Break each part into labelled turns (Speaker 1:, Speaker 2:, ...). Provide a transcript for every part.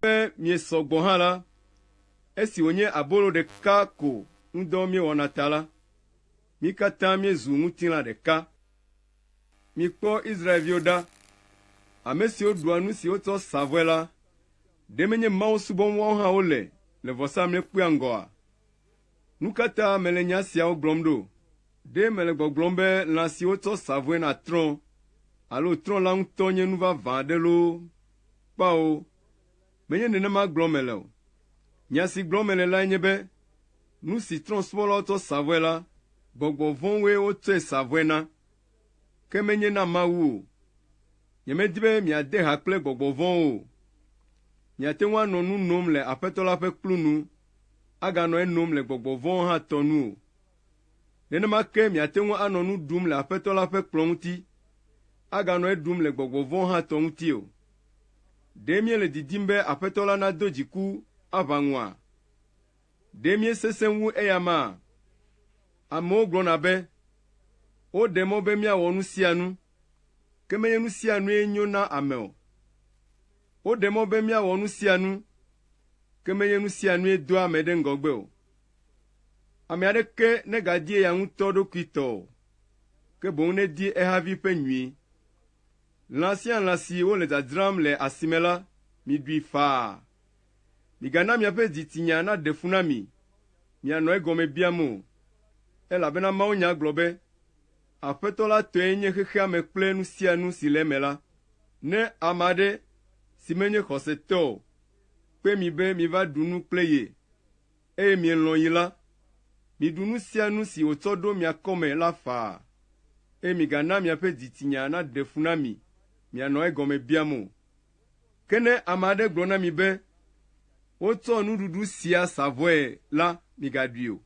Speaker 1: Ke miesɔ gbɔ hã la, esi wònye abolo ɖeka ko ŋudɔ miewɔna ta la, mi katã miezu ŋutilã ɖeka. Mikpɔ Israel-viwo ɖa, ame siwo ɖua nu si wotsɔ sa vɔe la, ɖe menye Mawu subɔm woawo hã wole le vɔsamlekpuia ŋgɔa? Nu ka ta mele nya siawo gblɔm ɖo? Ɖe mele gbɔgblɔm be lã si wotsɔ sa vɔe na trɔ̃ alo trɔ̃ la ŋutɔ nye nu vavã aɖe loo? Kpao, menye nenema gblɔm mele o. Nya si gblɔm mele lae nye be nu si trɔ̃subɔlawo tsɔ sa vɔe la, gbɔgbɔ vɔ̃woe wotsɔe sa vɔe na, ke menye na Mawu o. Nyemedi be miade ha kple gbɔgbɔ vɔ̃wo o. Miate ŋu anɔ nu nom le Aƒetɔ la ƒe kplu nu, aganɔ enom le gbɔgbɔ vɔ̃wo hã tɔ nu o. Nenema ke miate ŋu anɔ nu ɖum le Aƒetɔ la ƒe kplɔ̃ ŋuti, aganɔ eɖum le gbɔgbɔ vɔ̃ hã tɔ ŋuti o. Ɖe míele didim be Aƒetɔ la nado dziku aʋa ŋua? Ɖe míesesẽ wu eyamaa? Amewo gblɔna be, Woɖe mɔ be míawɔ nu sia nu, ke menye nu sia nue nyo na ame o. Woɖe mɔ be míawɔ nu sia nu, ke menye nu sia nue doa ame ɖe ŋgɔgbe o. Ame aɖeke negadie ya ŋutɔ ɖokui tɔ o, ke boŋ nedie ehavi ƒe nyui. Lã sia lã si wole dzadzram le asime la, miɖui faa. Migana miaƒe dzitsinya naɖe fu na mi, mianɔ egɔme biam o. Elabena mawunya gblɔ be, Aƒetɔ la tɔe nye xexea me kple nu sia nu si le eme la. Ne ame aɖe, si menye xɔsetɔ o, kpe mi be miva ɖu nu kple ye, eye mielɔ̃ yi la, miɖu nu sia nu si wòtsɔ ɖo mia kɔme la faa, eye migana miaƒe dzitsinya naɖe fu na mi mianɔ egɔme biam o. Ke ne ame aɖe gblɔ na mi be, Wotsɔ nuɖuɖu sia sa vɔe la, migaɖui o,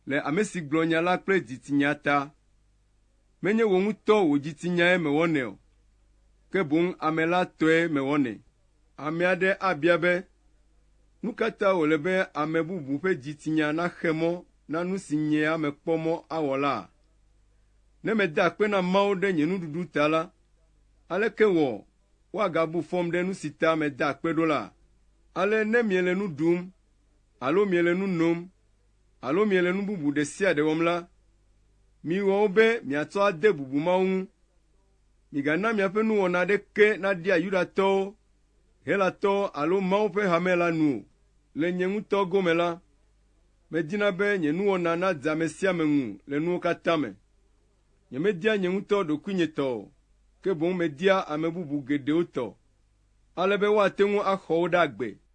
Speaker 1: le ame si gblɔ nya la kple dzitsinya ta. Menye wò ŋutɔ wò dzitinyae mewɔnɛ o, ke boŋ ame la tɔe mewɔnɛ. Ame aɖe abia be, Nu ka ta wòle be ame bubu ƒe dzitsinya naxe mɔ na nu si nye ya mekpɔ mɔ awɔ laa? Ne meda akpe na Mawu ɖe nye nuɖuɖu ta la, aleke wɔ woagabu fɔm ɖe nu si ta meda akpe ɖo la? Ale ne miele nu ɖum alo miele nu nom alo miele nu bubu ɖe sia ɖe wɔm la, miwɔ wo be miatsɔ ade bubu Mawu ŋu. Migana miaƒe nuwɔna aɖeke naɖia Yudatɔwo, Helatɔwo alo Mawu ƒe hame la nu o. Le nye ŋutɔ gome la, medina be nye nuwɔna nadze ame sia ame ŋu le nuwo katã me. Nyemedia nye ŋutɔ ɖokuinye tɔ o, ke boŋ media ame bubu geɖewo tɔ, ale be woate ŋu axɔ wo ɖe agbe.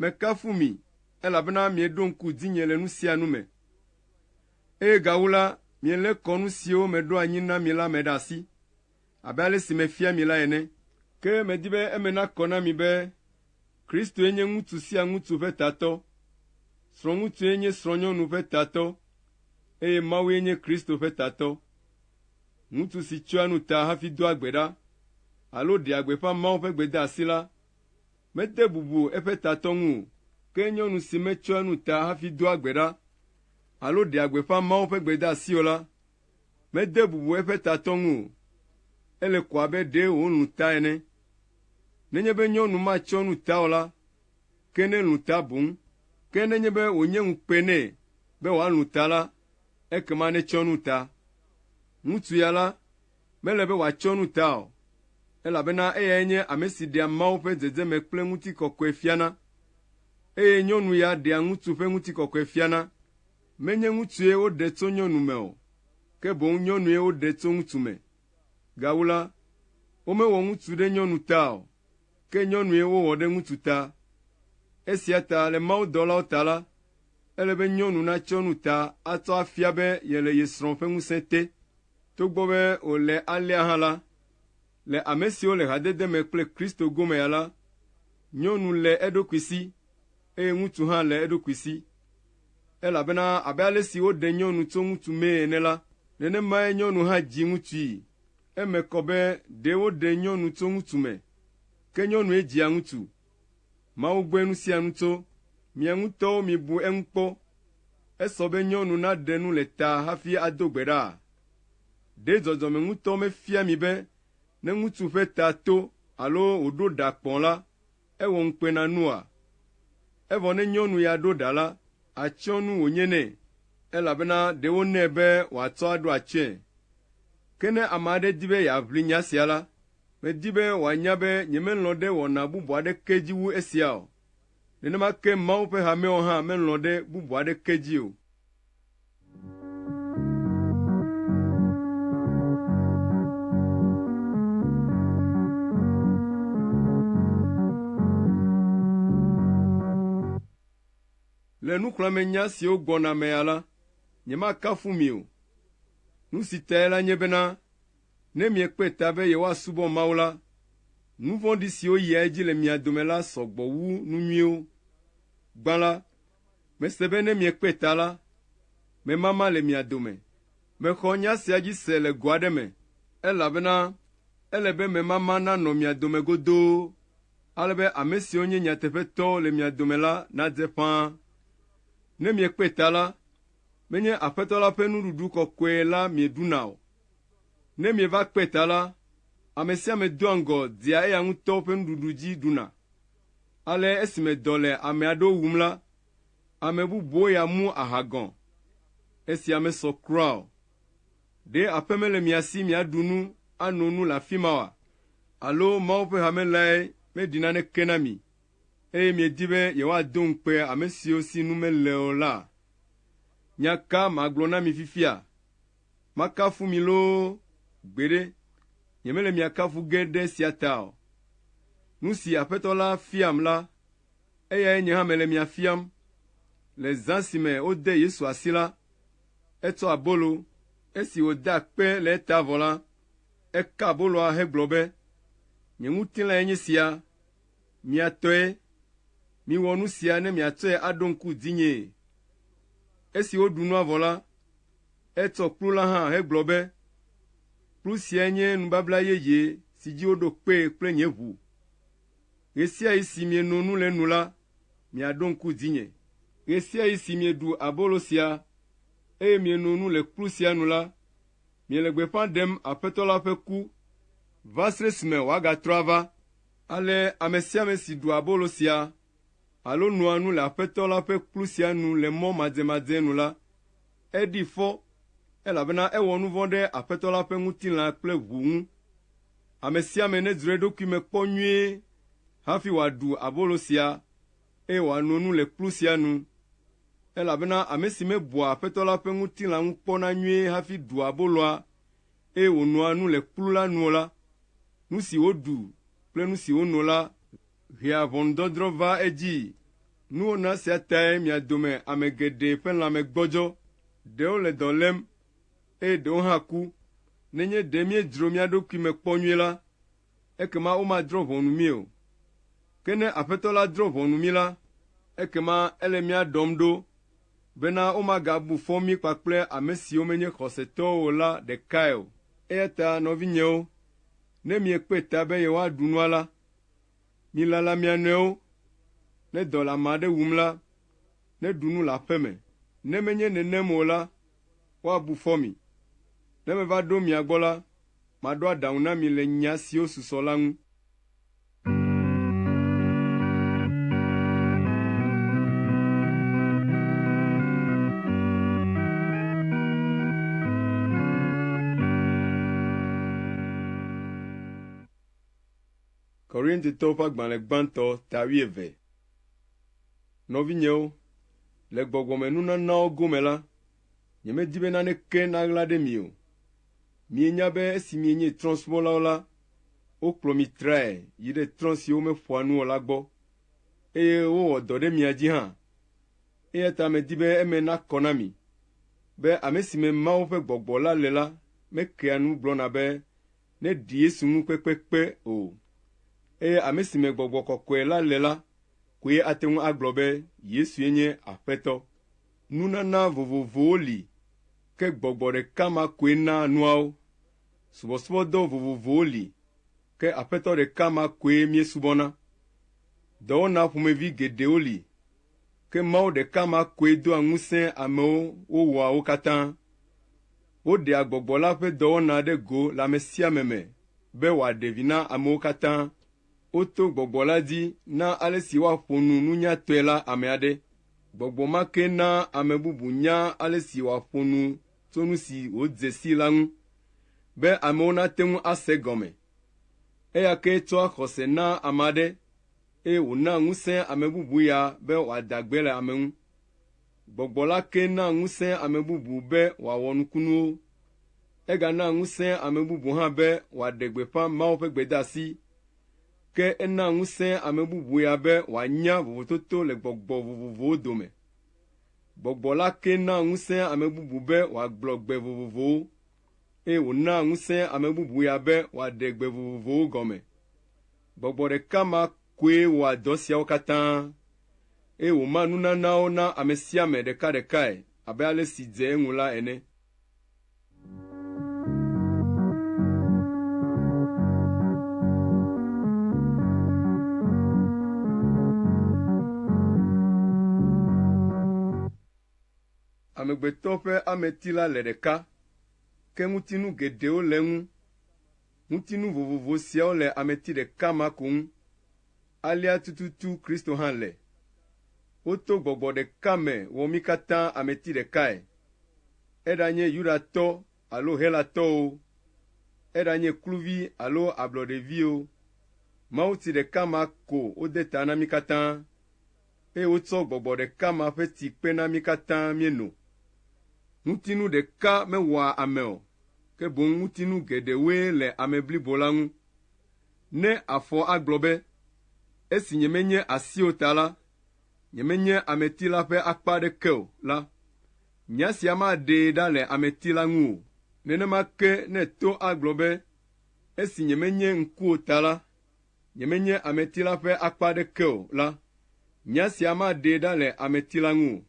Speaker 1: Mekafu mi, elabena mieɖo ŋku dzinye le nu sia nu me, eye gawu la, mielé kɔ nu siwo meɖo anyi na mi la me ɖe asi, abe ale si mefia mi la ene. Ke medi be eme nakɔ na mi be Kristoe nye ŋutsu sia ŋutsu ƒe tatɔ, srɔ̃ŋutsue nye srɔ̃nyɔnu ƒe tatɔ, eye Mawue nye Kristo ƒe tatɔ. Ŋutsu si tsyɔa nu ta hafi doa gbe ɖa alo ɖea gbeƒã Mawu ƒe gbedeasi la, Mede bubu eƒe tatɔ ŋu o, ke nyɔnu si metsɔa nu ta hafi doa gbe ɖa alo ɖea gbeƒã Mawu ƒe gbedeasi o la, mede bubu eƒe tatɔ ŋu o. Ele ko abe ɖe wòlũ ta ene. Nenye be nyɔnu matsɔ nu ta o la, ke nelũ ta boŋ. Ke nenye be wònye ŋukpe nɛ be wòalũ ta la, ekema netsɔ nu ta. Ŋutsu ya la, Mele be wòatsyɔ nu ta o, elabena eyae nye ame si ɖea Mawu ƒe dzedzeme kple ŋutikɔkɔe fiana. Eye nyɔnu ya ɖea ŋutsu ƒe ŋutikɔkɔe fiana. Menye ŋutsue woɖe tso nyɔnu me o, ke boŋ nyɔnue woɖe tso ŋutsu me. Gawu la, womewɔ ŋutsu ɖe nyɔnu ta o, ke nyɔnue wowɔ ɖe ŋutsu ta. Esia ta le mawudɔlawo ta la, ele be nyɔnu natsyɔ nu ta atsɔ afia be yele ye srɔ̃ ƒe ŋusẽ te. Togbɔ be wòle alea hã la, le ame siwo le hadede me kple Kristo gomea la, nyɔnu le eɖokui si, eye ŋutsu hã le eɖokui si. Elabena abe ale si woɖe nyɔnu tso ŋutsu mee ene la, nenemae nyɔnu hã dzi ŋutsui. Eme kɔ be ɖe woɖe nyɔnu tso ŋutsu me, ke nyɔnue dzia ŋutsu. Mawu gbɔe nusianu tso, mia ŋutɔwo mibu eŋu kpɔ. Esɔ be nyɔnu naɖe nu le ta hafi ado gbe ɖaa? Ɖe dzɔdzɔme ŋutɔ mefia mi be ne ŋutsu ƒe ta to alo wòɖo ɖa kpɔ la, ewɔ ŋukpe na nua? Evɔ ne nyɔnu ya ɖo ɖa la, atsyɔ nu wònye nɛ, elabena ɖe wonɛ be wòatsɔ aɖo atsyɔ̃e. Ke ne ame aɖe di be yeaʋli nya sia la, Medi be wòanya be nyemelɔ̃ ɖe wɔna bubu aɖeke dzi wu esia o. Nenema ke Mawu ƒe hameawo hã melɔ̃ ɖe bubu aɖeke dzi o. Le nuxlɔ̃amenya siwo gbɔna mea la, nyemakafu mi o. Nu si tae la nye bena Ne miekpe ta be yewoasubɔ Mawu la, nu vɔ̃ɖi siwo yia edzi le mia dome la sɔ gbɔ wu nu nyuiwo. Gbã la, mese be ne miekpe ta la, memama le mia dome. Mexɔ nya sia dzi se le go aɖe me, elabena ele be memama nanɔ mia dome godoo, ale be ame siwo nye nyateƒetɔwo le mia dome la nadze ƒãa. Ne miekpe ta la, menye Aƒetɔ la ƒe nuɖuɖu kɔkɔe la mieɖuna o. Ne mieva kpɔe ta la, ame sia ame doa ŋgɔ dia eya ŋutɔ ƒe nuɖuɖu dzi ɖuna. Ale esime dɔ le ame aɖewo wum la, ame bubuwo ya mu aha gɔ̃. Esia mesɔ kura o. Ɖe aƒe mele mia si miaɖu nu ano nu le afi ma oa? Alo Mawu ƒe hame lae meɖi naneke na mi, eye miedi be yewoado ŋukpe ame siwo si nu mele o la? Nya ka magblɔ na mi fifia? Makafu mi loo? Gbeɖe, nyemele mia kafu ge ɖe esia ta o. Nu si Aƒetɔ la fiam la, eyae nye hã mele mia fiam. Le zã si me wode Yesu asi la, etsɔ abolo, esi wòda kpe le eta vɔ la, eka aboloa hegblɔ be, Nye ŋutilãe nye sia. Mia tɔe. Miwɔ nu sia ne miatsɔe aɖo ŋku dzinyee. Esi woɖu nua vɔ la, etsɔ kplu la hã hegblɔ be, Kplu siae nye nubabla yeye si dzi woɖo kpee kple nye ʋu. Ɣesiaɣi si mieno nu le enu la, miaɖo ŋku dzinye. Ɣesiaɣi si mieɖu abolo sia, eye mieno nu le kplu sia nu la, miele gbeƒã ɖem Aƒetɔ la ƒe ku, vasre si me wòagatrɔ ava. Ale ame sia ame si ɖua abolo sia alo noa nu le Aƒetɔ la ƒe kplu sia nu le mɔ madzemadzee nu la, eɖi fɔ, elabena ewɔ nu vɔ̃ ɖe Aƒetɔ la ƒe ŋutilã kple ʋu ŋu. Ame sia ame nedzro eɖokui me kpɔ nyuie hafi wòaɖu abolo sia, eye wòano nu le kplu sia nu. Elabena ame si mebua Aƒetɔ la ƒe ŋutilã ŋu kpɔna nyuie hafi ɖua aboloa, eye wònoa nu le kplu la nu o la, nu si woɖu kple nu si wono la hea ʋɔnudɔdrɔ̃ vaa edzii. Nuwɔna sia tae mia dome ame geɖe ƒe lãme gbɔdzɔ, ɖewo le dɔ lém, eye ɖewo hã ku. Nenye ɖe míedzro mía ɖokui me kpɔ nyuie la, ekema womadrɔ̃ ʋɔnu mí o. Ke ne Aƒetɔ la drɔ̃ ʋɔnu mí la, ekema ele mía ɖɔm ɖo bena womagabu fɔ mí kpakple ame siwo menye xɔsetɔwo o la ɖekae o. Eya ta nɔvinyewo, ne miekpe ta be yewoaɖu nua la, milala mia nɔewo. Ne dɔ le ame aɖe wum la, neɖu nu le aƒe me, ne menye nenem o la, woabu fɔ mi. Ne meva ɖo mia gbɔ la, maɖo aɖaŋu na mi le nya siwo susɔ la ŋu. Korintitɔwo ƒe agbalẽ gbãtɔ ta wuieve. Nɔvinyewo, le gbɔgbɔmenunanawo gome la, nyemedi be naneke naɣla ɖe mi o. Mienya be esi mienye trɔ̃subɔlawo la, wokplɔ mi trae yi ɖe trɔ̃ siwo meƒoa nu o la gbɔ, eye wowɔ dɔ ɖe mia dzi hã. Eya ta medi be eme nakɔ na mi be ame si me Mawu ƒe gbɔgbɔ la le la mekea nu gblɔna be neɖi Yesu ŋu kpekpekpe o. Eye ame si me gbɔgbɔ kɔkɔe la le la koe ate ŋu agblɔ be Yesue nye Aƒetɔ. Nunana vovovowo li, ke gbɔgbɔ ɖeka ma koe naa nuawo. Subɔsubɔdɔ vovovowo li, ke Aƒetɔ ɖeka ma koe míesubɔna. Dɔwɔna ƒomevi geɖewo li, ke Mawu ɖeka ma koe doa ŋusẽ amewo wowɔa wo katã. woɖea gbɔgbɔ la ƒe dɔwɔna ɖe go le ame sia ame me be wòaɖe vi na amewo katã. Woto gbɔgbɔ la dzi na ale si woaƒo nu nunyatɔe la ame aɖe. Gbɔgbɔ ma kee naa ame bubu nyaa ale si wòaƒo nu tso nu si wòdze sii la ŋu, be amewo nate ŋu ase egɔme. Eya kee tsɔa xɔse naa ame aɖe, eye wònaa ŋusẽ ame bubu ya be wòada gbe le ame ŋu. Gbɔgbɔ la kee naa ŋusẽ ame bubu be wòawɔ nukunuwo. Eganaa ŋusẽ ame bubu hã be wòaɖe gbeƒã Mawu ƒe gbedeasi. Ke enaa ŋusẽ ame bubu ya be wòanya vovototo le gbɔgbɔ vovovowo dome. Gbɔgbɔ la kee naa ŋusẽ ame bubu be wòagblɔ gbe vovovowo, eye wònaa ŋusẽ ame bubu ya be wòaɖe gbe vovovowo gɔme. Gbɔgbɔ ɖeka ma koe wɔa dɔ siawo katã, eye wòmaa nunanawo na ame sia ame ɖekaɖekae abe ale si dze eŋu la ene. Amegbetɔ ƒe ameti la le ɖeka, ke ŋutinu geɖewo le eŋu. Ŋutinu vovovo siawo le ameti ɖeka ma ko ŋu. Alea tututu Kristo hã le. Woto gbɔgbɔ ɖeka me wɔ mí katã ameti ɖekae, eɖanye Yudatɔ alo Helatɔ o, eɖanye kluvi alo ablɔɖevi o, mawuti ɖeka ma ko wode ta na mí katã. Eye wotsɔ Gbɔgbɔ ɖeka ma ƒe ti kpe na mí katã míeno. Ŋutinu ɖeka mewɔa ame o, ke boŋ ŋutinu geɖewoe le ame blibo la ŋu. Ne afɔ agblɔ be, Esi nyemenye asi o ta la, nyemenye ameti la ƒe akpa aɖeke o la, nya sia maɖee ɖa le ameti la ŋu o. Nenema ke ne to agblɔ be, Esi nyemenye ŋku o ta la, nyemenye ameti la ƒe akpa aɖeke o la, nya sia maɖee ɖa le ameti la ŋu o.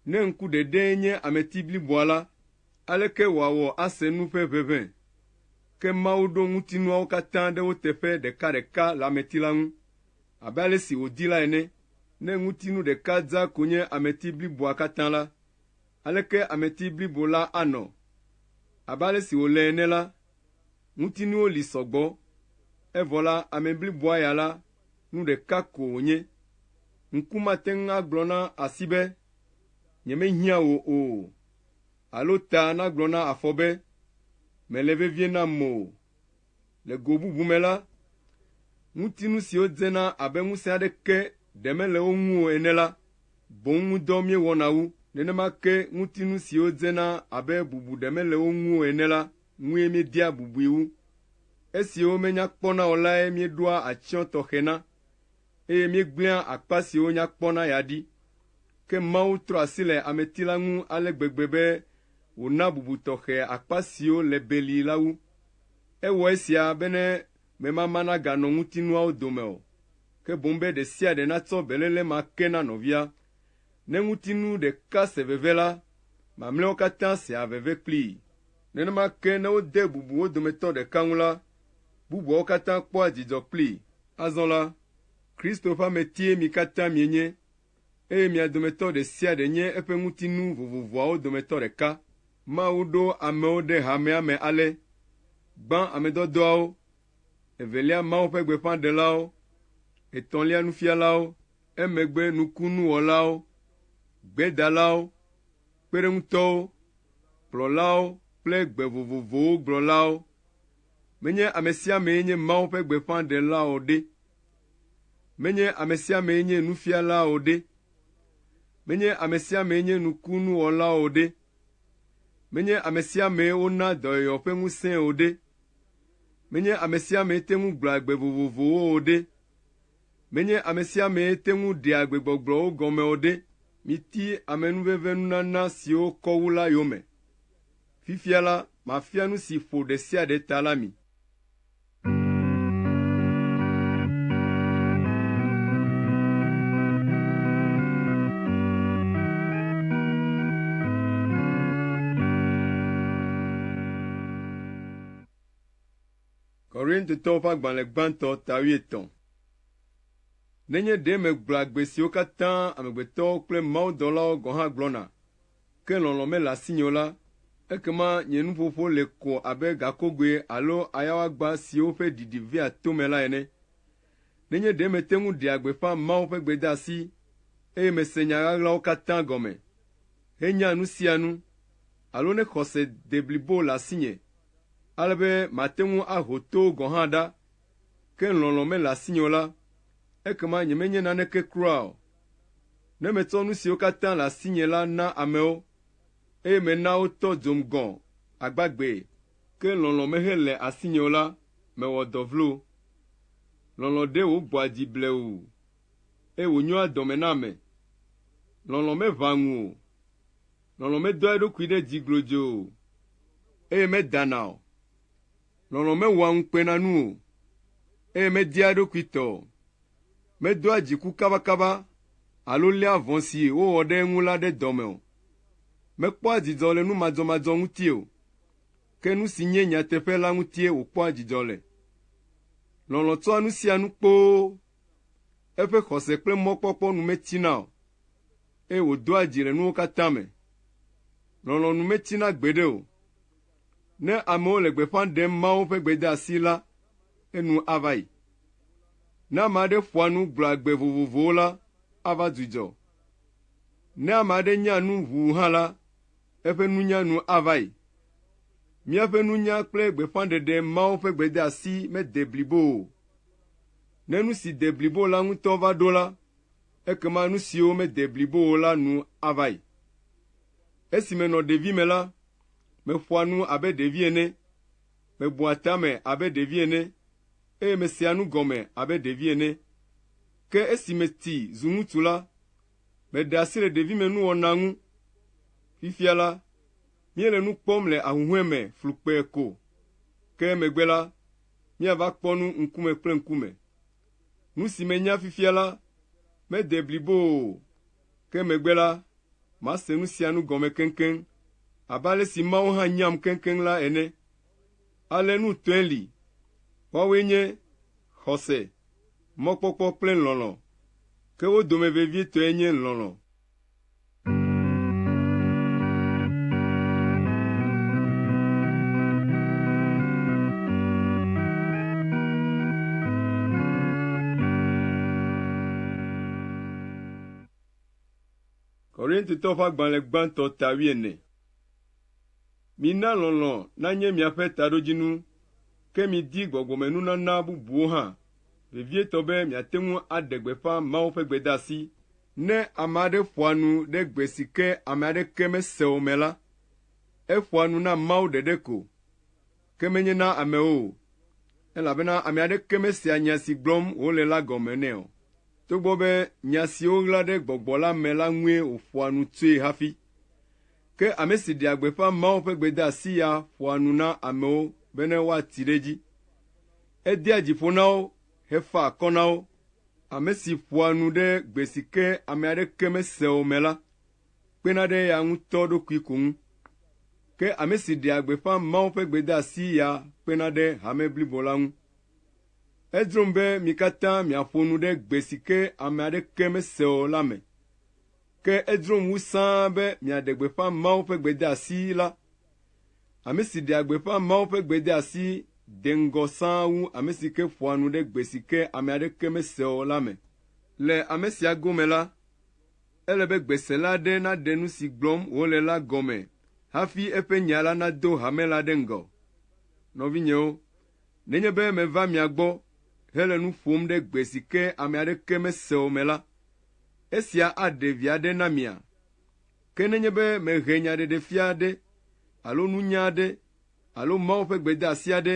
Speaker 1: Ne ŋku ɖeɖee nye ameti bliboa la, aleke wòawɔ ase nu ƒe ʋeʋẽ? Ke Mawu ɖo ŋutinuawo katã ɖe wo teƒe ɖekaɖeka le ameti la ŋu, abe ale si wòdi la ene. Ne ŋutinu ɖeka dza ko nye ameti bliboa katã la, aleke ameti blibo la anɔ? Abe ale si wòle ene la, ŋutinuwo li sɔgbɔ, evɔ la, ame bliboa ya la, nu ɖeka ko wònye. Ŋku mate ŋu agblɔ na asi be, Nyemehiã wò o, alo ta nagblɔ na afɔ be, Mèle vevie nam o. Le go bubu me la, ŋutinu siwo dzena abe ŋusẽ aɖeke ɖe mele wo ŋu o ene la, boŋ ŋudɔ míewɔna wu. Nenema ke ŋutinu siwo dzena abe bubu ɖe mele wo ŋu o ene la, ŋue míedea bubui wu. Esiwo menya kpɔna o lae míeɖoa atsyɔ̃ tɔxɛ na, eye míegblẽa akpa siwo nya kpɔna ya ɖi. Ke Mawu trɔ asi le ameti la ŋu ale gbegbe be wòna bubu tɔxɛ akpa siwo le beli la wu. Ewɔ esia bene memama naganɔ ŋutinuawo dome o, ke boŋ be ɖe sia ɖe natsɔ beléle ma ke na nɔvia. Ne ŋutinu ɖeka se veve la, mamlɛawo katã sea veve kplii. Nenema ke ne wode bubu wo dometɔ ɖeka ŋu la, bubuawo katã kpɔa dzidzɔ kplii. Azɔ la, Kristo ƒe ametie mi katã mienye, eye mia dometɔ ɖe sia ɖe nye eƒe ŋutinu vovovoawo dometɔ ɖeka. Mawu ɖo amewo ɖe hamea me ale, gbã amedɔdɔawo, evelia Mawu ƒe gbeƒãɖelawo, etɔ̃lia nufialawo, Emegbe nukunuwɔlawo, gbedalawo, kpeɖeŋutɔwo, kplɔlawo kple gbe vovovowo gblɔlawo, menye amesiamee nye Mawu ƒe gbeƒãɖela o ɖe? Menye amesiamee nye nufiala o ɖe? Menye amesiamee nye nukunuwɔla o ɖe? Menye amesiamee wona dɔyɔyɔ ƒe ŋusẽe o ɖe? Menye amesiamee te ŋu gblɔa gbe vovovowo o ɖe? Menye amesiamee te ŋu ɖea gbegbɔgblɔwo gɔme o ɖe, miti amenuvenvenunana siwo kɔ wu la yome. Fifia la, mafia nu si ƒo ɖe sia ɖe ta la mi. Nenye ɖe megblɔa gbe siwo katã amegbetɔwo kple mawudɔlawo gɔ̃ hã gblɔna, ke lɔlɔ̃ mele asinye o la, ekema nye nuƒoƒo le ko abe gakogoe alo ayawagba siwo ƒe ɖiɖi vea tome la ene. Nenye ɖe mete ŋu ɖea gbeƒã Mawu ƒe gbedeasi, eye mese nya ɣaɣlawo katã gɔme, henya nu sia nu, alo ne xɔse deblibo le asinye ale be mate ŋu aho to gɔ̃ hã ɖa, ke lɔlɔ̃ mele asinye o la, ekema nyemenye naneke kura o. Ne metsɔ nu siwo katã le asinye la na amewo, eye mena wotɔ dzom gɔ̃ agbagbee, ke lɔlɔ̃ mehele asinye o la, mewɔ dɔ vlo. Lɔlɔ̃ ɖe wò gbɔa dzi blewu, eye wònyoa dɔme na ame. Lɔlɔ̃ meʋãa ŋu o. Lɔlɔ̃ medoa eɖokui ɖe dzi glodzoo o, eye medana o. Lɔlɔ̃ mewɔa ŋukpenanu o, eye media eɖokui te o. Medoa dziku kabakaba alo léa vɔ̃ si wowɔ ɖe eŋu la ɖe dɔme o. Mekpɔa dzidzɔ le nu madzɔmadzɔ ŋuti o, ke nu si nye nyateƒe la ŋutie wòkpɔa dzidzɔ le. Lɔlɔ̃ tsɔa nu sia nu kpoo Eƒe xɔse kple mɔkpɔkpɔ nu metsina o, eye wòdoa dzi le nuwo katã me. Lɔlɔ̃ nu metsina gbeɖe o. Ne amewo le gbeƒã ɖem Mawu ƒe gbedeasi la, enu ava yi. Ne ame aɖe ƒoa nu gblɔa gbe vovovowo la, ava dzudzɔ. Ne ame aɖe nya nu ʋuu hã la, eƒe nunya nu ava yi. Míaƒe nunya kple gbeƒãɖeɖe Mawu ƒe gbedeasi mede blibo o. Ne nu si de blibo la ŋutɔ va ɖo la, ekema nu siwo mede blibo o la nu ava yi. Esi menɔ ɖevime la, meƒoa nu abe ɖevi ene, mebua tame abe ɖevi ene, eye mesea nu gɔme abe ɖevi ene. Ke esi meti zu ŋutsu la, meɖe asi le ɖevimenuwɔna ŋu. Fifia la, míele nu kpɔm le ahuhɔ̃e me flukpee ko, ke emegbe la, míava kpɔ nu ŋkume kple ŋkume. Nu si menya fifia la mede blibo o, ke megbe la, mase nu sia nu gɔme keŋkeŋ, abe ale si Mawu hã nyam keŋkeŋ la ene. Ale nu tɔe li. Woawoe nye xɔse, mɔkpɔkpɔ kple lɔlɔ̃, ke wo dome vevietɔe nye lɔlɔ̃. Korintitɔ ƒe agbalẽ gbãtɔ ta wuiene. Mina lɔlɔ̃ nanye miaƒe taɖodzinu, ke midi gbɔgbɔmenunana bubuwo hã, vevietɔ be miate ŋu aɖe gbeƒã Mawu ƒe gbedeasi Ne ame aɖe ƒoa nu ɖe gbe si ke ame aɖeke mesea o me la, eƒoa nu na Mawu ɖeɖe ko, ke menye na amewo o, elabena ame aɖeke mesea nya si gblɔm wòle la gɔme nɛ o, togbɔ be nya si woɣla ɖe gbɔgbɔ la me la ŋue wòƒoa nu tsoe hafi. Ke ame si ɖea gbeƒã Mawu ƒe gbedeasi ya ƒoa nu na amewo bene woati ɖe edzi. Edea dzi ƒo na wo hefaa akɔ na wo. Ame si ƒoa nu ɖe gbe si ke ame aɖeke mesea o me la kpena ɖe eya ŋutɔ ɖokui ko ŋu, ke ame si ɖea gbeƒã Mawu ƒe gbedeasi ya kpena ɖe hame blibo la ŋu. Edzrom be mi katã miaƒo nu ɖe gbe si ke ame aɖeke mesea o la me, ke edzrom wu sãa be miaɖe gbeƒã Mawu ƒe gbedeasi la Ame si ɖea gbeƒã Mawu ƒe gbedeasi de ŋgɔ sãa wu ame si ke ƒoa nu ɖe gbe si ke ame aɖeke mesea o la me. Le ame sia gome la, ele be gbesela aɖe naɖe nu si gblɔm wòle la gɔme hafi eƒe nya la nado hame la ɖe ŋgɔ. Nɔvinyewo, nenye be meva mia gbɔ hele nu ƒom ɖe gbe si ke ame aɖeke mesea o me la, esia aɖe vi aɖe na mia? Ke nenye be mehe nyaɖeɖefia aɖe alo nunya aɖe alo Mawu ƒe gbedeasi aɖe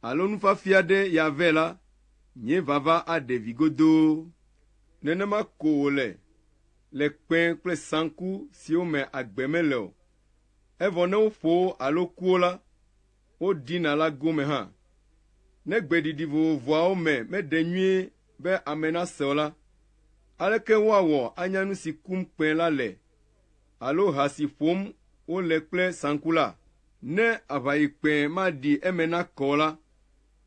Speaker 1: alo nufiafia aɖe ya vɛ la, nye vava aɖe vi godoo. Nenema ko wòle le kpẽ kple saŋku siwo me agbe mele o, evɔ ne woƒo wo alo ku wo la, wodina la gome hã. Ne gbeɖiɖi vovovoawo me meɖe nyuie be ame nase o la, aleke woawɔ anya nu si kum kpẽ la le alo ha si ƒom wole kple saŋku la? Ne aʋayikpẽ maɖi eme nakɔ o la,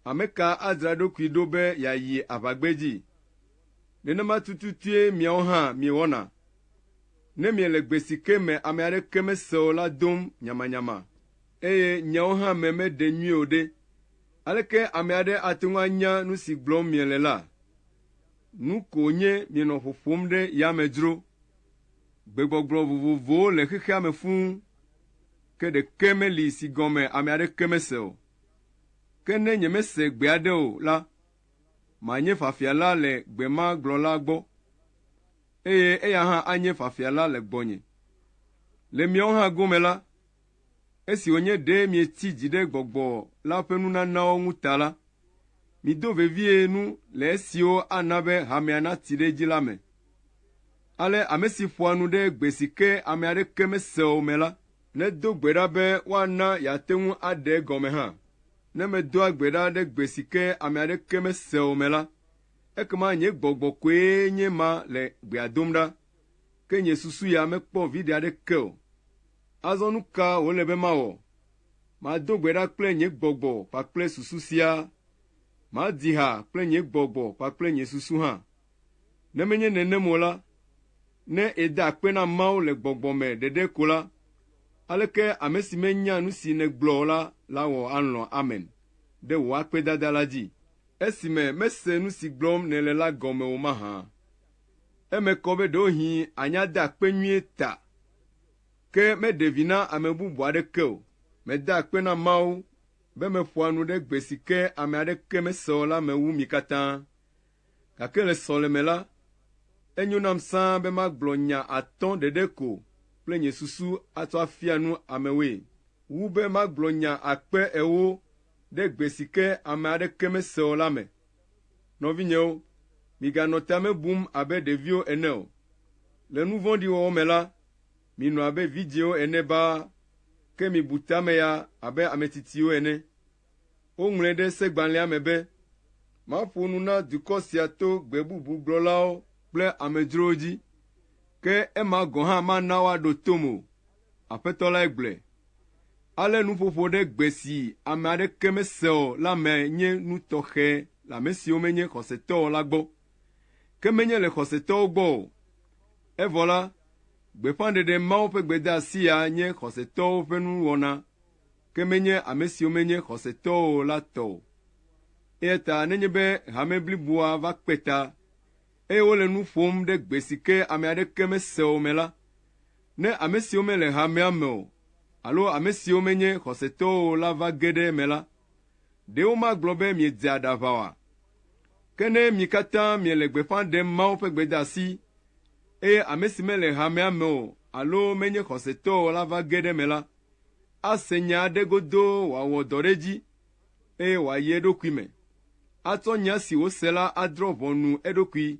Speaker 1: ame ka adzra eɖokui ɖo be yeayi aʋagbedzi? Nenema tututue miawo hã miewɔna. Ne miele gbe si ke me ame aɖeke mese o la dom nyamanyama, eye nyawo hã me meɖe nyuie o ɖe, aleke ame aɖe ate ŋu anya nu si gblɔm miele la? Nu ko nye mienɔ ƒo ƒom ɖe yame dzro. Gbegbɔgblɔ vovovowo le xexea me fũu, ke ɖeke meli si gɔme ame aɖeke mese o. Ke ne nyemese gbe aɖe o la, manye fafiala le gbe ma gblɔla gbɔ, eye eya hã anye fafiala le gbɔnye. Le miawo hã gome la, Esi wònye ɖe mietsi dzi ɖe gbɔgbɔ la ƒe nunanawo ŋu ta la, mido vevie nu le esiwo ana be hamea natsi ɖe edzi la me. Ale ame si ƒoa nu ɖe gbe si ke ame aɖeke mese o me la, nedo gbe ɖa be woana yeate ŋu aɖe egɔme hã. Ne medoa gbe ɖa ɖe gbe si ke ame aɖeke mese o me la, ekema nye gbɔgbɔ koe nye ma le gbea dom ɖa, ke nye susu ya mekpɔ viɖe aɖeke o. Azɔ nu ka wòle be mawɔ? Mado gbe ɖa kple nye gbɔgbɔ kpakple susu siaa? Madi ha kple nye gbɔgbɔ kpakple nye susu hã? Ne menye nenem o la, ne ède akpe na Mawu le gbɔgbɔ me ɖeɖe ko la, aleke ame si menya nu si nègblɔ o la awɔ alɔ̃ amen ɖe wò akpedada la dzi? Esime mese nu si gblɔm nèle la gɔme o mahã? Eme kɔ be ɖewohĩ ànya de akpe nyuie ta Ke meɖe vi na ame bubu aɖeke o. Meda akpe na Mawu be meƒoa nu ɖe gbe si ke ame aɖeke mesea o la me wu mi katã. Gake le sɔleme la, enyo nam sãa be magblɔ nya atɔ̃ ɖeɖe ko kple nye susu atsɔ afia nu amewoe, wu be magblɔ nya akpe ewo ɖe gbe si ke ame aɖeke mese o la me. Nɔvinyewo, miganɔ ta me bum abe ɖeviwo ene o. Le nu vɔ̃ɖi wɔwɔ me la, minɔ abe vidzĩwo ene baa, ke mibu ta me ya abe ame tsitsiwo ene. Woŋlɔe ɖe Segbalẽa me be, Maƒo nu na dukɔ sia to gbe bubu gblɔlawo kple amedzrowo dzi, ke ema gɔ̃ hã mana woaɖo tom o, Aƒetɔ lae gblɔe. Ale nuƒoƒo ɖe gbe si ame aɖeke mesea o la me nye nu tɔxɛ le ame siwo menye xɔsetɔ o la gbɔ, ke menye le xɔsetɔwo gbɔ o. Evɔ la, gbeƒãɖeɖe Mawu ƒe gbedeasi ya nye xɔsetɔwo ƒe nuwɔna, ke menye ame siwo menye xɔsetɔwo o la tɔ o. Eya ta nenye be hame bliboa va kpe ta, eye wole nu ƒom ɖe gbe si ke ame aɖeke mesea o me la, Ne ame siwo mele hamea me o alo ame siwo menye xɔsetɔwo o la va ge ɖe eme la, ɖe womagblɔ be miedzea ɖe aʋa oa? Ke ne mi katã miele gbeƒã ɖem Mawu ƒe gbedeasi, eye ame si mele hamea me o alo menye xɔsetɔ o la va ge ɖe eme la, ase nya aɖe godoo wòawɔ dɔ ɖe edzi, eye wòayi eɖokui me atsɔ nya si wòse la adrɔ̃ ʋɔnu eɖokui.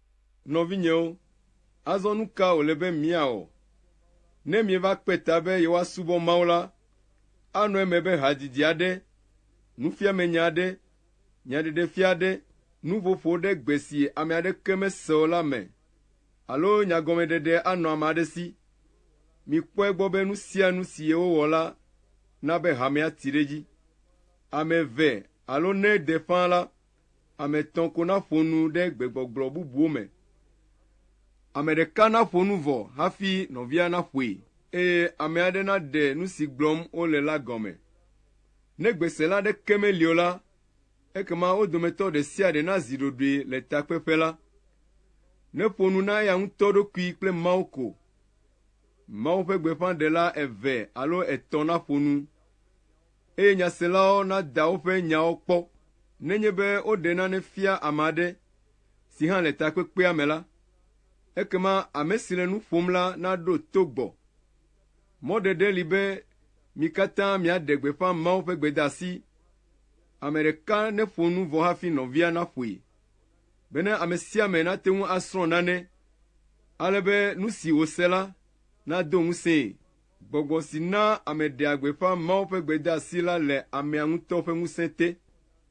Speaker 1: Nɔvinyewo, azɔ nu ka wòle be míawɔ? Ne mieva kpe ta be yewoasubɔ Mawu la, anɔ eme be hadidi aɖe, nufiamenya aɖe, nyaɖeɖefia aɖe, nuƒoƒo ɖe gbe si ame aɖeke mese o la me alo nyagɔmeɖeɖe anɔ ame aɖe si. Mikpɔe gbɔ be nu sia nu si yewowɔ la na be hamea ti ɖe edzi. Ame eve alo ne de ƒã la, Ame etɔ̃ ko naƒo nu ɖe gbegbɔgblɔ bubuwo me. Ame ɖeka naƒo nu vɔ hafi nɔvia naƒoe. Eye ame aɖe naɖe nu si gblɔm wole la gɔme. Ne gbesela aɖeke meli o la, ekema wo dometɔ ɖe sia ɖe nazi ɖoɖoe le takpeƒe la. Neƒo nu na eya ŋutɔ ɖokui kple Mawu ko. Mawu ƒe gbeƒãɖela eve alo etɔ̃ naƒo nu. eye nyaselawo nada woƒe nyawo kpɔ nenye be woɖe nane fia ame aɖe si hã le takpekpea me la, ekema ame si le nu ƒom la naɖo to gbɔ. Mɔɖeɖe li be mi katã miaɖe gbeƒã Mawu ƒe gbedeasi. Ame ɖeka neƒo nu vɔ hafi nɔvia naƒoe, bene ame sia ame nate ŋu asrɔ̃ nane, ale be nu si wòse la nado ŋusẽe. Gbɔgbɔ si naa ame ɖea gbeƒã Mawu ƒe gbedeasi la le amea ŋutɔ ƒe ŋusẽ te,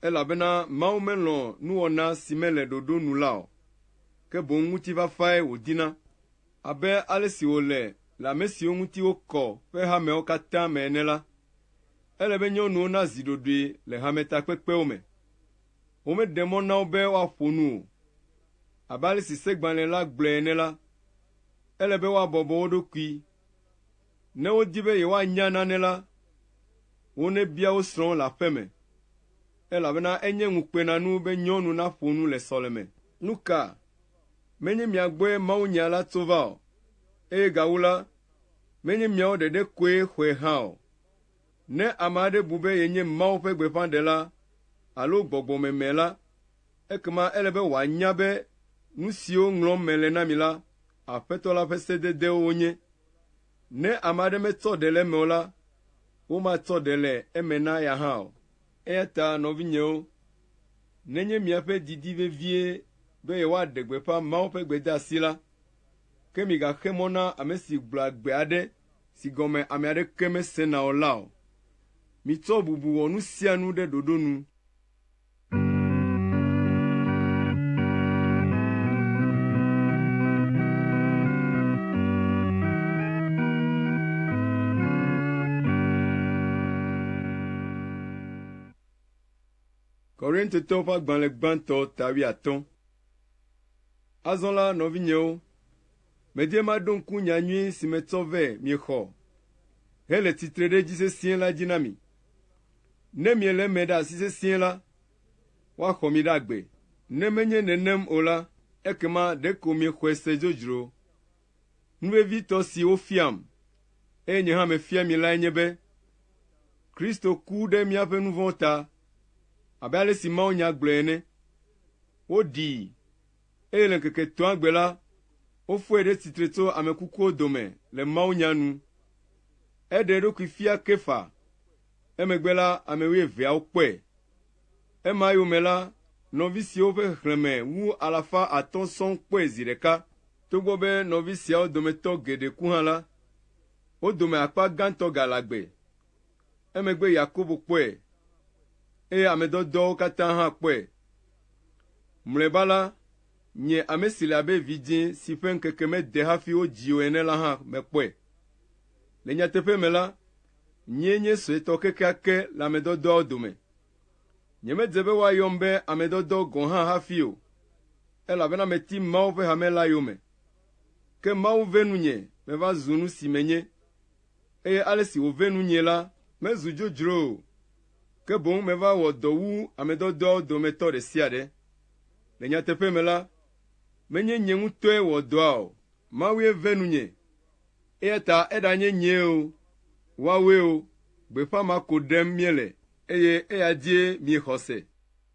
Speaker 1: elabena Mawu melɔ̃ nuwɔna si mele ɖoɖo nu la o, ke boŋ ŋutifafae wòdina, abe ale si wòle le ame siwo ŋuti wokɔ ƒe hameawo katã me ene la. Ele be nyɔnuwo nazi ɖoɖoe le hametakpekpewo me. Womeɖe mɔ na wo be woaƒo nu o. Abe ale si segbalẽ la gblɔe ene la, ele be woabɔbɔ wo ɖokui Ne wodi be yewoanya nane la, wonebia wo srɔ̃wo le aƒe me, elabena enye ŋukpenanu be nyɔnu naƒo nu le sɔleme. Nu ka menye mia gbɔe mawunya la tso va o, eye gawu la, menye miawo ɖeɖe koe xɔe hã o? Ne ame aɖe bu be yenye Mawu ƒe gbeƒãɖela alo gbɔgbɔmeme la, ekema ele be wòanya be nu siwo ŋlɔm mele na mi la Aƒetɔ la ƒe sededewo wonye. Ne ame aɖe metsɔ ɖe le eme o la, womatsɔ ɖe le eme na ya hã o. Eya ta nɔvinyewo, nenye miaƒe didi vevie be yewoaɖe gbeƒã Mawu ƒe gbedeasi la, ke migaxe mɔ na ame si gblɔa gbe aɖe si gɔme ame aɖeke mesena o la o. Mitsɔ bubu wɔ nu sia nu ɖe ɖoɖo nu. Korintotɔwo ƒe agbalẽ gbãtɔ tawi atɔ. Azɔ la, nɔvinyewo, medie maɖo ŋku nya nyui si metsɔ vɛ miexɔ hele tsitre ɖe edzi sesĩe la dzi na mi. Ne miele eme ɖe asi sesĩe la, woaxɔ mi ɖe agbe. Ne menye nenem o la, ekema ɖeko miexɔe se dzodzro. Nu vevitɔ si wofiam, eye nye hã mefia mi lae nye be, Kristo ku ɖe míaƒe nu vɔ̃wo ta, abe ale si mawunya gblɔe ene. Woɖii, eye le ŋkeke etɔ̃a gbe la, wofɔe ɖe tsitre tso ame kukuwo dome le mawunya nu. Eɖe eɖokui fia Kefa, emegbe la, ame wuieveawo kpɔe. Ema eyome la, nɔvi siwo ƒe xexlẽme wu alafa atɔ̃ sɔŋ kpɔe zi ɖeka. Togbɔ be nɔvi siawo dometɔ geɖe ku hã la, wo dome akpa gãtɔ gale agbe. Emegbe Yakobo kpɔe, eye ame dɔdɔawo katã hã kpɔe. Mlɔeba la, nye ame si le abe vidzĩ si ƒe ŋkeke mede hafi wodzii o ene la hã mekpɔe. Le nyateƒe me la, nyee nye suetɔ kekeake le ame dɔdɔawo dome. Nyemedze be woayɔm be ame dɔdɔ gɔ̃ hã hafi o, elabena meti Mawu ƒe hame la yome. Ke Mawu ve nunye meva zu nu si menye. eye ale si wòvɛ nunyee la mezu dzodzro o, ke boŋ meva wɔ dɔ wu ame dɔdɔawo dometɔ ɖe sia ɖe. Le nyateƒe me la, menye nye ŋutɔe wɔ dɔa o, Mawue ve nunye. Eya ta eɖanye nyee o, woawoe o, gbeƒã ma ko ɖem miele, eye eya dzie miexɔ se.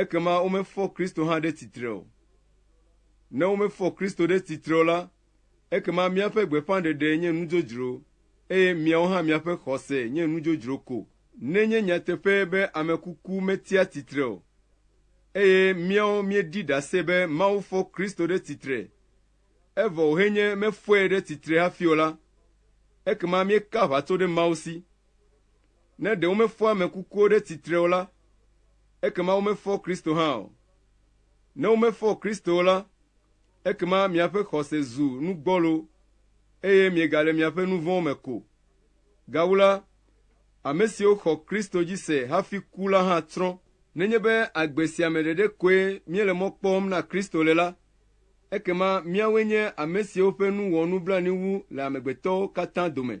Speaker 1: ekema womefɔ Kristo hã ɖe tsitre o. Ne womefɔ Kristo ɖe tsitre o la, ekema míaƒe gbeƒãɖeɖe nye nudzodzro, eye miawo hã miaƒe xɔse nye nudzodzro ko. Nenye nyateƒe be ame kuku metsia tsitre o, eye míawo míeɖi ɖase be Mawu fɔ Kristo ɖe tsitre, evɔ wòhe nye mefɔe ɖe tsitre hafi o la, ekema míeka aʋatso ɖe Mawu si. Ne ɖe womefɔ ame kukuwo ɖe tsitre o la, ekema womefɔ Kristo hã o. Ne womefɔ Kristo o la, ekema miaƒe xɔse zu nu gbɔlo, eye miegale miaƒe nu vɔ̃wo me ko. Gawu la, ame siwo xɔ Kristo dzi se hafi ku la hã tsrɔ̃. Nenye be agbe sia me ɖeɖe koe míele mɔ kpɔm na Kristo le la, ekema míawoe nye ame siwo ƒe nu wɔ nublanui wu le amegbetɔwo katã dome.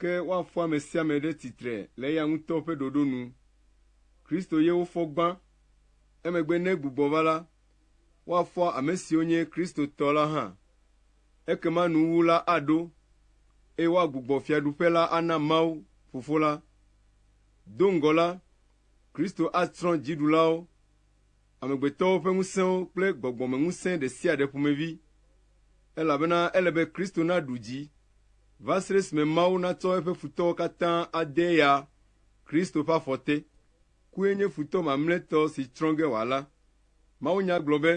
Speaker 1: Ke woafɔ ame sia ame ɖe tsitre le eya ŋutɔ ƒe ɖoɖo nu. Kristo ye wofɔ gbã. Emegbe ne egbugbɔ va la, woafɔ ame siwo nye Kristotɔ la hã. Ekema nuwuwu la aɖo, eye woagbugbɔ fiaɖuƒe la ana Mawu, Fofo la. Do ŋgɔ la, Kristo atsrɔ̃ dziɖulawo amegbetɔwo ƒe ŋusẽwo kple gbɔgbɔmeŋusẽ ɖe sia ɖe ƒomevi, elabena ele be Kristo naɖu dzi, va se ɖe esime Mawu natsɔ eƒe futɔwo katã ade ya, Kristo ƒe afɔ te. Kue nye futɔ mamlɛtɔ si tsrɔ̃ ge wòala. Mawunya gblɔ be,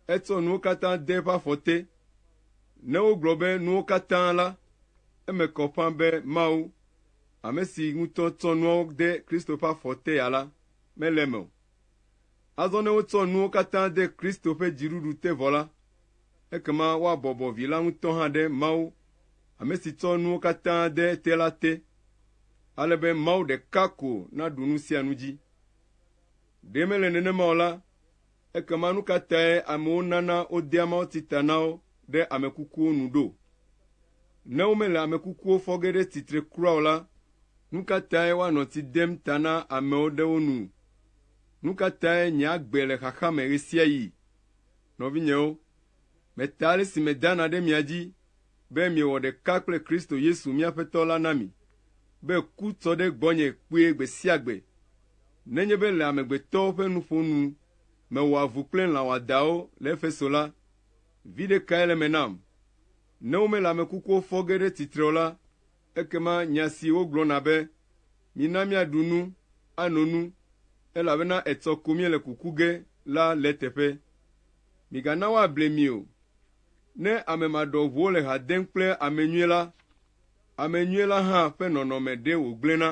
Speaker 1: Etsɔ nuwo katã de eƒe afɔ te. Ne wogblɔ be nuwo katã la, eme kɔ ƒã be Mawu, ame si ŋutɔ tsɔ nuawo de Kristo ƒe afɔ te ya la, mele eme o. Azɔ ne wotsɔ nuwo katã de Kristo ƒe dziɖuɖu te vɔ la, ekema woabɔbɔ Vi la ŋutɔ hã ɖe Mawu, ame si tsɔ nuwo katã de ete la te, ale be Mawu ɖeka ko naɖu nu sia nu dzi. Ɖe mele nenema o la, Ekema nu ka tae amewo nana wodea mawutsi ta na wo ɖe ame kukuwo nu ɖo? Ne womele ame kukuwo fɔ ge ɖe tsitre kura o la, nu ka tae woanɔ tsi dem ta na amewo ɖe wo nu? Nu ka tae nye agbe le xaxa me ɣesiaɣi? Nɔvinyewo, Meta ale si medana ɖe mia dzi be miewɔ ɖeka kple Kristo Yesu mía Aƒetɔ la na mi, be ku tsɔ ɖe gbɔnye kpuie gbe sia gbe. Nenye be le amegbetɔwo ƒe nuƒo nu mewɔa vu kple lã wɔadãwo le Efeso la, viɖe kae le eme nam? Ne womele ame kukuwo fɔ ge ɖe tsitre o la, Ekema nya si wogblɔna be, Mina míaɖu nu, ano nu, elabena etsɔ ko míele kuku ge la le eteƒe. Migana woable mi o. Ne ame maɖɔʋuwo le ha dem kple ame nyui la, ame nyui la hã ƒe nɔnɔme ɖee wògblẽna.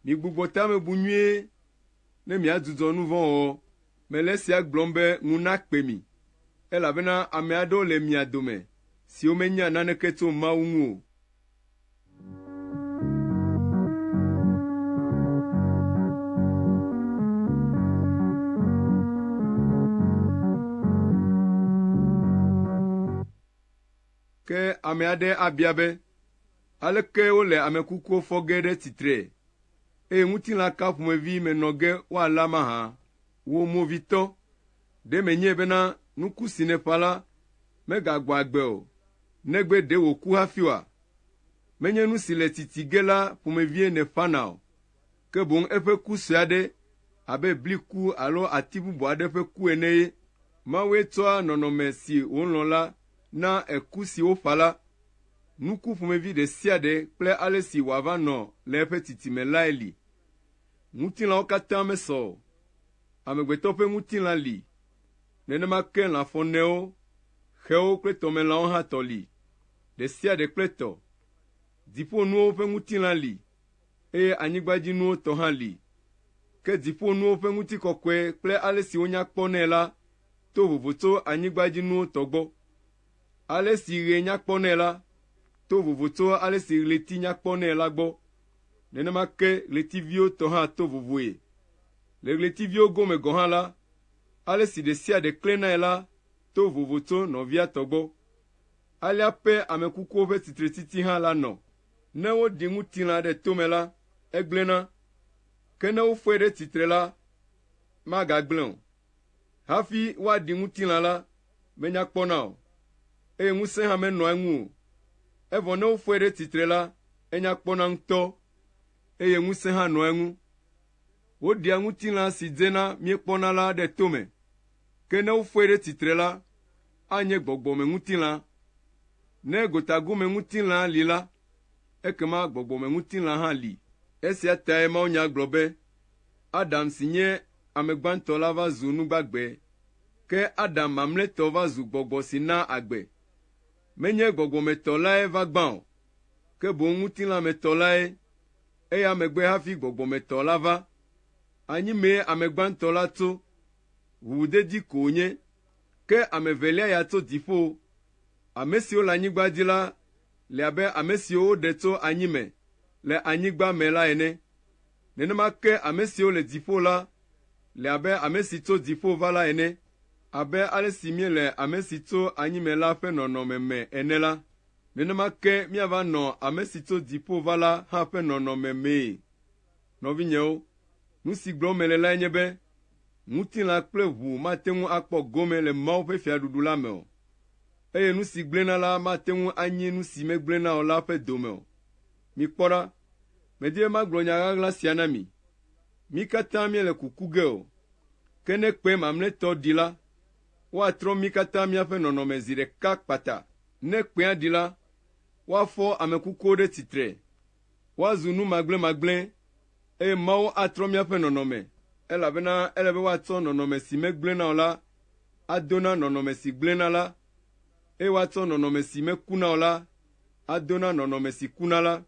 Speaker 1: Migbugbɔ ta me bu nyuie, ne miadzudzɔ nu vɔ̃ wɔwɔ. Mele esia gblɔm be ŋu nakpe mi, elabena ame aɖewo le mia dome siwo menya naneke tso Mawu ŋu o. Ke ame aɖe abia be, Aleke wole ame kukuwo fɔ ge ɖe tsitre, eye ŋutilã ka ƒomevi me nɔ ge woalé amahã? Wò movitɔ, ɖe menyae bena nuku si nèƒã la megagbɔ agbe o, negbe ɖe wòku hafi oa? Menye nu si le tsitsi ge la ƒomevie nèƒãna o. ke boŋ eƒe ku sue aɖe abe bli ku alo ati bubu aɖe ƒe ku ene ye. Mawue tsɔa nɔnɔme si wòlɔ̃ la naa eku si woƒã la. Nuku ƒomevi ɖe sia ɖe kple ale si wòava nɔ le eƒe titime lae li. Ŋutilãwo katã mesɔ o. Amegbetɔ ƒe ŋutilã li, nenema ke lã fɔnewo, xewo kple tɔmelãwo hã tɔ li, ɖe sia ɖe kple tɔ. Dziƒonuwo ƒe ŋutilã li, Eye anyigbadzinuwo tɔ hã li. Ke dziƒonuwo ƒe ŋutikɔkɔe kple ale si wonya kpɔ nɛ la to vovo tso anyigbadzinuwo tɔ gbɔ. Ale si ɣe nya kpɔ nɛ la to vovo tso ale si ɣleti nya kpɔ nɛ la gbɔ. Nenema ke ɣletiviwo tɔ hã to vovoe. Le ɣletiviwo gome gɔ̃ hã la, ale si ɖe sia ɖe klẽnae la to vovo tso nɔvia tɔ gbɔ. Alea pɛ ame kukuwo ƒe tsitretiti hã la nɔ. Ne woɖi ŋutilã ɖe tome la, egblẽna, ke ne woƒoe ɖe tsitre la, magagblẽ o. Hafi woaɖi ŋutilã la, menya kpɔna o, eye ŋusẽ hã menɔa eŋu o. Evɔ ne woƒoe ɖe tsitre la, enya kpɔna ŋutɔ, eye ŋusẽ hã nɔa eŋu. Woɖia ŋutilã si dzena míekpɔna la ɖe tome, ke ne woƒoe ɖe tsitre la, anye gbɔgbɔmeŋutilã. Ne gotagomeŋutilã li la, ekema gbɔgbɔmeŋutilã hã li. Esia tae mawunya gblɔ be, Adam si nye ame gbãtɔ la va zu nu gbagbe, ke Adam mamlɛtɔ va zu gbɔgbɔ si naa agbe. Menye gbɔgbɔmetɔ lae va gbã o, ke boŋ ŋutilãmetɔ lae, eya megbe hafi gbɔgbɔmetɔ la va. Anyi mee ame gbãtɔ la tso, ʋuʋudedi ko wònye Ke ame evelia ya tso dziƒo. Ame siwo le anyigba dzi la le abe ame siwo woɖe tso anyi me le anyigba me la ene. Nenema ke ame siwo le dziƒo la le abe ame si tso dziƒo va la ene. Abe ale si míele ame si tso anyi me la ƒe nɔnɔme me ene la, nenema ke míava nɔ ame si tso dziƒo va la hã ƒe nɔnɔme mee. Nɔvinyewo, nu si gblɔm mele lae nye be ŋutilã kple ʋu mate ŋu akpɔ gome le Mawu ƒe Fiaɖuɖu la me o, eye nu si gblẽna la mate ŋu anyi nu si megblẽna o la ƒe dome o. Mikpɔ ɖa, medi be magblɔ nya ɣaɣla sia na mi. Mí katã míele kuku ge o, ke ne kpẽ mamlɛtɔ ɖi la, woatrɔ mí katã míaƒe nɔnɔme zi ɖeka kpata. Ne kpẽa ɖi la, woafɔ ame kukuwo ɖe tsitre. woazu nu magblẽmagblẽ, eye Mawu atrɔ míaƒe nɔnɔme, elabena ele be woatsɔ nɔnɔme si megblẽna o la ado na nɔnɔme si gblẽna la, eye woatsɔ nɔnɔme si mekuna o la ado na nɔnɔme si kuna la.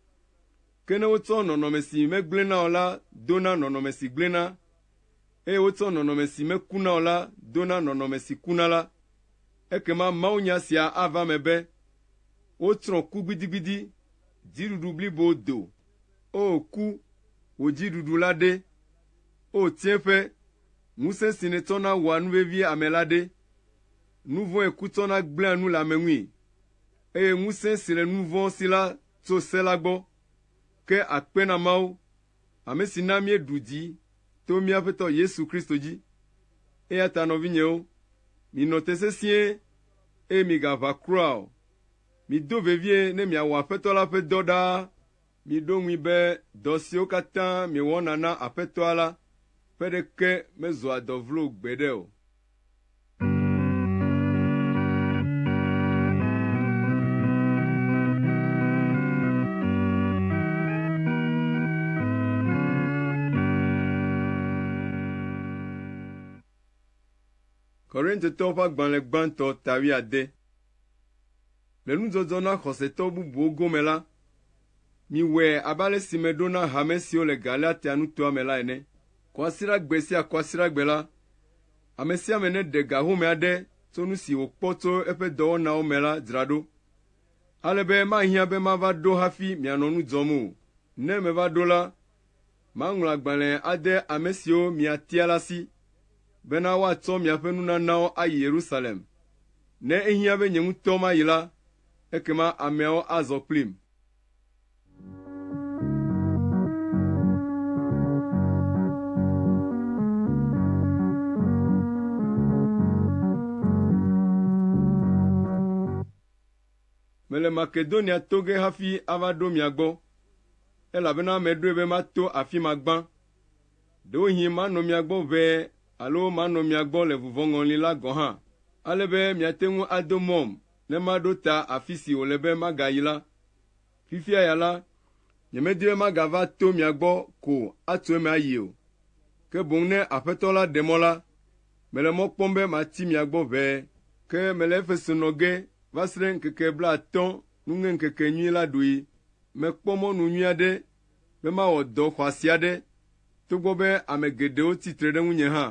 Speaker 1: Ke ne wotsɔ nɔnɔme si megblẽna o la do na nɔnɔme si gblẽna, eye wotsɔ nɔnɔme si mekuna o la do na nɔnɔme si kuna la, Ekema mawunya sia ava eme be, Wotsrɔ̃ ku gbidigbidi, dziɖuɖu blibo do. O ku, wò dziɖuɖu la ɖe? O tsiẽƒe, ŋusẽ si nètsɔna wɔa nu vevi ame la ɖe? Nu vɔ̃e ku tsɔna gblẽa nu le ame ŋui, eye ŋusẽ si le nu vɔ̃ si la tso se la gbɔ. Ke akpe na Mawu ame si na míeɖu dzi to mía Aƒetɔ Yesu Kristo dzi. Eya ta nɔvinyewo, minɔ te sesĩe, eye migaʋa kura o. Mido vevie ne miawɔ Aƒetɔ la ƒe dɔ ɖaa. Miɖo ŋui be dɔ siwo katã miewɔna na Aƒetɔa la ƒe ɖeke mezua dɔ vlo gbeɖe o. Korintetɔwo ƒe agbalẽ gbãtɔ ta wuiade. Le nudzɔdzɔ na xɔsetɔ bubuwo gome la, miwɔe abe ale si meɖo na hame siwo le Galatia nutoa me la ene. Kɔsiɖagbe sia kɔsiɖagbe la, ame sia ame neɖe ga home aɖe tso nu si wòkpɔ tso eƒe dɔwɔnawo me la dzra ɖo, ale be mahiã be mava ɖo hafi mianɔ nu dzɔm o. Ne meva ɖo la, maŋlɔ agbalẽ ade ame siwo miatia la si, bena woatsɔ miaƒe nunanawo ayi Yerusalem. Ne ehiã be nye ŋutɔ mayi la, ekema ameawo azɔ kplim. Mele Makedonia to ge hafi ava ɖo mia gbɔ, elabena meɖoe be mato afi ma gbã. Ɖewohĩ manɔ mia gbɔ ʋɛ alo manɔ mia gbɔ le vuvɔŋɔli la gɔ̃ hã, ale be miate ŋu ado mɔm ne maɖo ta afi si wòle be magayi la. Fifia ya la, nyemedi be magava to mia gbɔ ko atso eme ayi o, ke boŋ ne Aƒetɔ la ɖe mɔ la, mele mɔ kpɔm be mati mia gbɔ ʋɛe. Ke mele Efeso nɔ ge va srẽ ŋkeke blaatɔ̃ nuŋeŋkekenyui la ɖui. Mekpɔ mɔnu nyui aɖe be mawɔ dɔ xɔasi aɖe, togbɔ be ame geɖewo tsi tre ɖe ŋunye hã.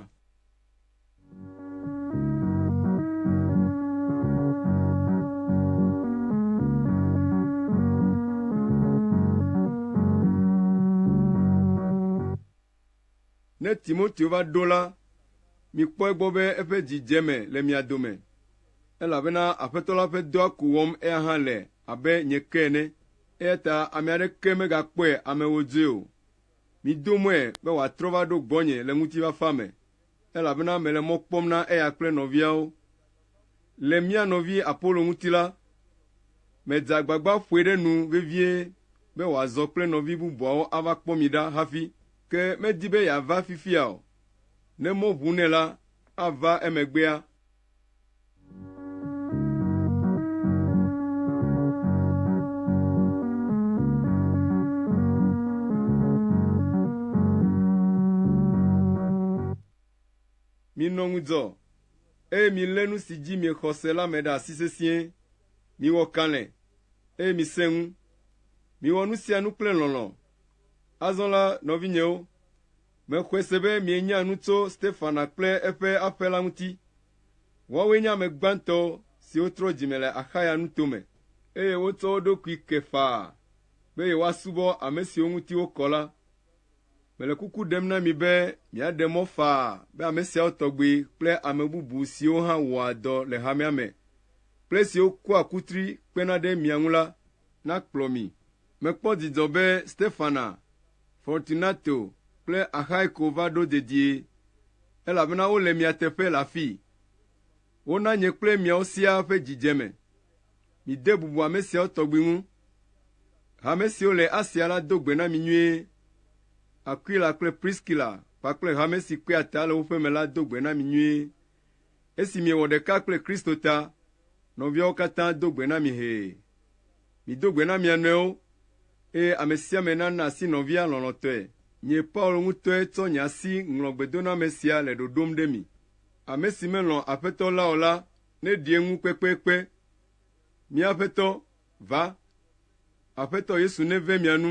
Speaker 1: Ne Timoteo va ɖo la, mikpɔe gbɔ be eƒe dzidzeme le mia dome, elabena Aƒetɔ la ƒe dɔa ko wɔm eya hã le abe nye ke ene, eya ta ame aɖeke megakpɔe amewo dzoe o. Mido mɔe be wòatrɔ va ɖo gbɔnye le ŋutifafa me, elabena mele mɔ kpɔm na eya kple nɔviawo. Le mía nɔvi Apolo ŋuti la, meda agbagba ƒoe ɖe nu vevie be wòazɔ kple nɔvi bubuawo ava kpɔ mi ɖa hafi. Ke medi be yeava fifia o, ne mɔ ʋu nɛ la, ava emegbea. Minɔ ŋudzɔ, eye milé nu si dzi miexɔ se la me ɖe asi sesĩe. Miwɔ kalẽ, eye misẽ ŋu. Miwɔ nu sia nu kple lɔlɔ̃. Azɔ la, nɔvinyewo, Mexɔe se be mienya nu tso Stefana kple eƒe aƒe la ŋuti. Woawoe nye ame gbãtɔ siwo trɔ dzime le Axaya nuto me, eye wotsɔ wo ɖokui ke faa be yewoasubɔ ame siwo ŋuti wokɔ la. Mele kuku ɖem na mi be miaɖe mɔ faa be ame siawo tɔgbi kple ame bubu siwo hã wɔa dɔ le hamea me kple siwo kua kutri kpena ɖe mia ŋu la nakplɔ mi Mekpɔ dzidzɔ be Stefana, Fortunato, kple Axaiko va ɖo dedie, elabena wole mia teƒe le afii. Wona nye kple miawo siaa ƒe dzidzeme. Mide bubu ame siawo tɔgbi ŋu. Hame siwo le Asia la do gbe na mi nyuie. Akwila kple Priskila kpakple hame si kpea ta le woƒe me la do gbe na mi nyuie. Esi miewɔ ɖeka kple Kristo ta, nɔviawo katã do gbe na mi hee. Mido gbe na mia nɔewo, eye ame sia ame nana asi nɔvia lɔlɔ̃tɔe. Nye Paulo ŋutɔe tsɔ nye asi ŋlɔ gbedoname sia le ɖoɖom ɖe mi. Ame si melɔ̃ Aƒetɔ la o la neɖi eŋu kpekpekpe. Mía Aƒetɔ, va! Aƒetɔ Yesu neve mia nu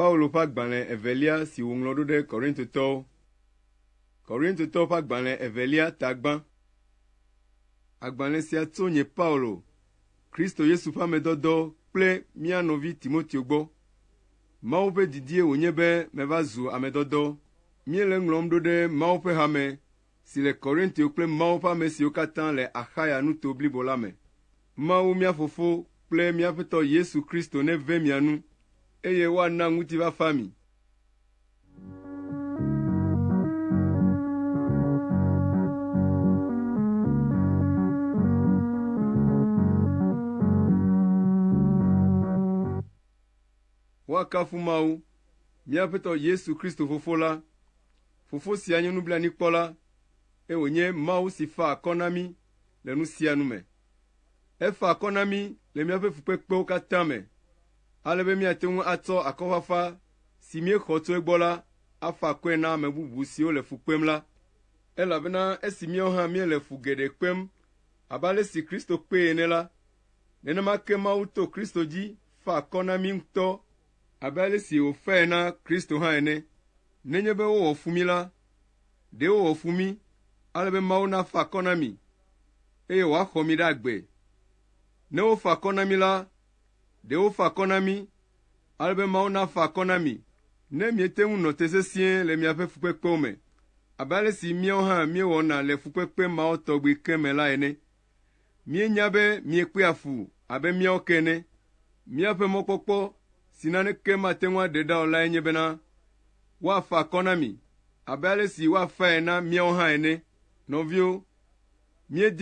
Speaker 1: Paulo ƒe agbalẽ evelia si wòŋlɔ ɖo ɖe Korintotɔwo. Korintotɔwo ƒe agbalẽ evelia tagbã. Agbalẽ sia tso nye Paulo, Kristo Yesu ƒe amedɔdɔ kple mía nɔvi Timoteo gbɔ. Mawu ƒe didie wònye be meva zu ame dɔdɔ. Míele ŋlɔm ɖo ɖe Mawu ƒe hame si le Korintio kple Mawu ƒe ame siwo katã le Axaya nuto blibo la me. Mawu mía Fofo kple mía Aƒetɔ Yesu Kristo neve mia nu, eye woana ŋutifafa mi. Woakafu Mawu, mía Aƒetɔ Yesu Kristo Fofo la. Fofo sia nye nublanuikpɔla, eye wònye Mawu si fa akɔ na mí le nu sia nu me. Efa akɔ na mí le míaƒe fukpekpewo katã me, ale be míate ŋu atsɔ akɔfafa si míexɔ tso egbɔ la afa akɔe na ame bubu siwo le fu kpem la. Elabena esi míawo hã míele fu geɖe kpem abe ale si Kristo kpee ene la, nenema ke Mawu to Kristo dzi Fa akɔ na mí ŋutɔ abe ale si wòfae na Kristo hã ene. Nenye be wowɔ fu mí la, ɖe wowɔ fu mí ale be Mawu nafa akɔ na mi, eye wòaxɔ mi ɖe agbe. Ne wofa akɔ na mí la, ɖe wofa akɔ na mí ale be Mawu nafa akɔ na mi, ne miete ŋu nɔ te sesĩe le miaƒe fukpekpewo me, abe ale si míawo hã míewɔna le fukpekpe mawo tɔgbi ke me la ene. Míenya be miekpea fu abe míawo ke ene. Míaƒe mɔkpɔkpɔ si naneke mate ŋu aɖe ɖa o lae nye bena woafa akɔ na mi abe ale si woafae na míawo hã ene. Nɔviwo, míedi